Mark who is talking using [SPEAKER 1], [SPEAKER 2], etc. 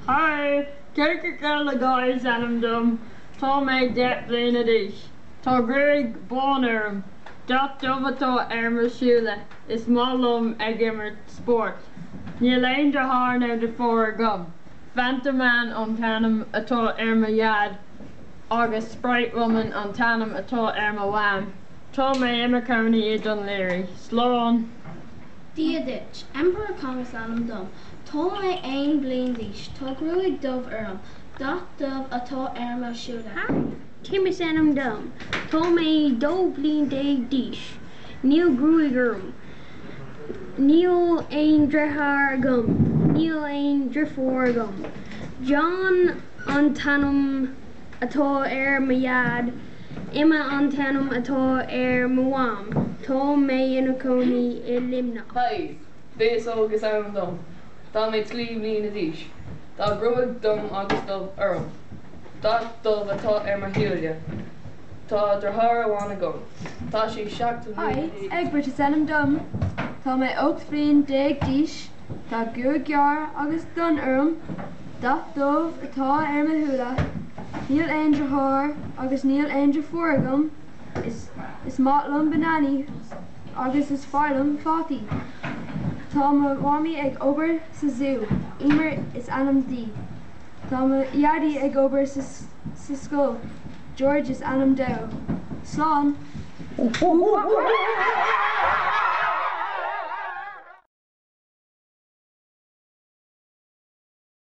[SPEAKER 1] Haigh! Coca-Cola Girl is ainm dom. Tá mé deich mbliana d'aois. Tá gruaig bán orm. Dath dubh atá ar mo shúile. Is maith liom ag imirt spóirt. Níl aon deartháir nó deirfiúr agam. Fanta Man an t-ainm atá ar mo dhaid agus Sprite Woman an t-ainm atá ar mo mham. Tá mé i mo chónaí i Dún Laoghaire. Slán! Dia
[SPEAKER 2] duit. Emperor Kong is ainm dom. Tá mé aon bliain d'aois. Tá gruaig dubh orm. Dath dubh atá ar mo shúile. Tim is
[SPEAKER 3] ainm dom. Tá mé dó bliain déag d'aois. Níl gruaig orm. Níl aon deartháir agam. Níl aon deirfiúr agam. John an t-ainm atá ar mo dhaid. Emma an t-ainm atá ar mo mham. Tá mé ina cónaí i Luimneach.
[SPEAKER 4] Bhíos óg is ainm dom. Tá mé trí bliana d'aois. Tá gruaig donn agus dubh orm. Dath dubh atá ar mo shúile. Tá deartháir amháin agam. Tá sé seacht mbliana d'aois. Hi, Egbert is
[SPEAKER 5] ainm dom. Tá mé ocht bhliain déag d'aois. Tá gruaig gearr agus donn orm. Dath dubh atá ar mo shúile. Níl aon deartháir agus níl aon deirfiúr agam. Is maith liom bananaí. Agus is fearr liom fataí. Tá mo mhamaí ag obair sa zú, Emer is ainm di. Tá mo dhaidí ag obair sa scoil, George is ainm dó. Slán!